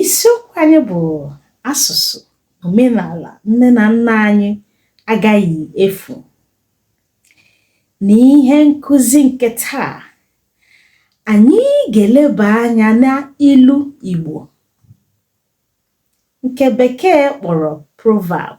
isiokwu anyị bụ asụsụ omenala nne na nna anyị agaghị efu n'ihe nkụzi nke taa anyị ga-eleba anya n'ilu Igbo nke bekee kpọrọ proverb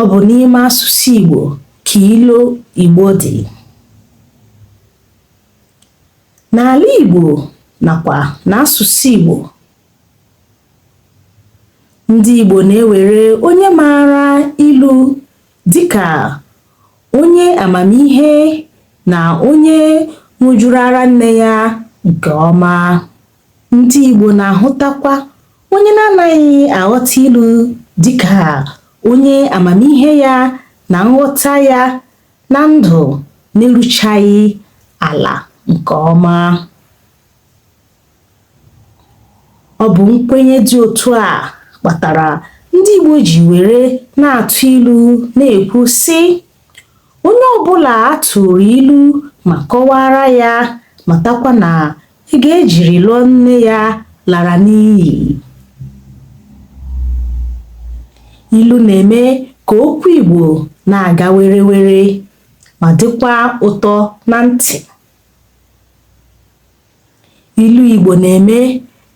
Ọ bụ n'ime asụsụ Igbo ka ilu Igbo dị. N'ala Igbo nakwa n'asụsụ Igbo, ndị Igbo na-ewere onye maara ilu dịka onye amamihe na onye ṅụjuru ara nne ya nke ọma. Ndị Igbo na-ahụtakwa onye na-anaghị aghọta ilu dịka onye amamihe ya na nghọta ya na ndụ na-eruchaghị ala nke ọma. Ọ bụ nkwenye dị otu a kpatara ndị Igbo ji were na-atụ ilu na-ekwu sị onye ọbụla a tụụrụ ilu ma kọwaara ya matakwa na Ego e jiri lụọ nne ya lara n'iyi. Ilu na-eme ka okwu Igbo na-aga werewere ma dịkwa ụtọ na ntị. Ilu Igbo na-eme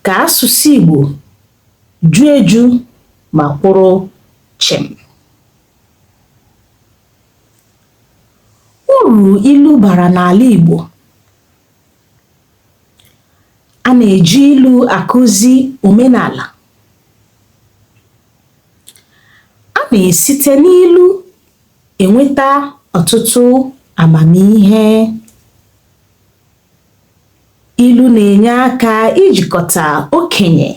ka asụsụ Igbo ju eju ma kwụrụ chịm. Uru ilu bara n'ala Igbo A na-eji ilu akụzi omenala. A na-esite n'ilu enweta ọtụtụ amamihe. Ilu na-enye aka ijikọta okenye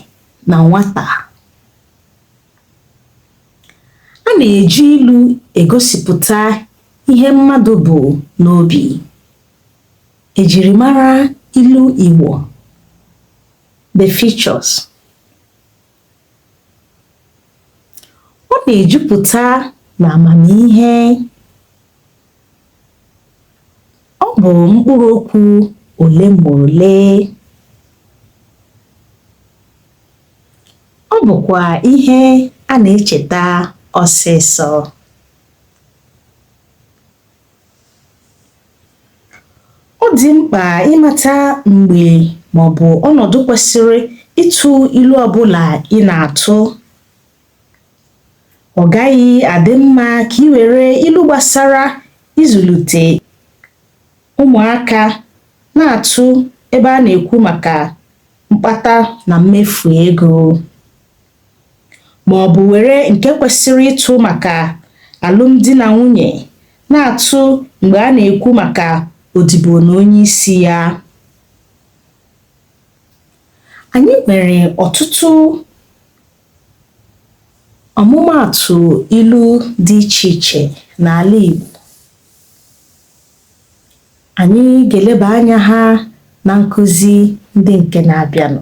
na nwata. A na-eji ilu egosipụta ihe mmadụ bu n'obi. Ejirimara ilu Igbo The features Ọ na-ejupụta na amamihe. Ọ bụ mkpụrụ okwu ole ma ole. Ọ bụkwa ihe a na-echeta ọsịsọ. Ọ dị mkpa ịmata mgbe maọbụ ọnọdụ kwesịrị ịtụ ilu ọbụla ị na-atụ. Ọ gaghị adị mma ka i were ilu gbasara ịzụlite ụmụaka na-atụ ebe a na-ekwu maka mkpata na mmefu ego. ma ọ bụ were nke kwesịrị ịtụ maka alụmdi na nwunye na-atụ mgbe a na-ekwu maka odibo na onye isi ya. Anyị nwere ọtụtụ ọmụmaatụ ilu dị iche iche n'ala Igbo. Anyị ga-eleba anya ha na nkuzi ndị nke na-abịanụ.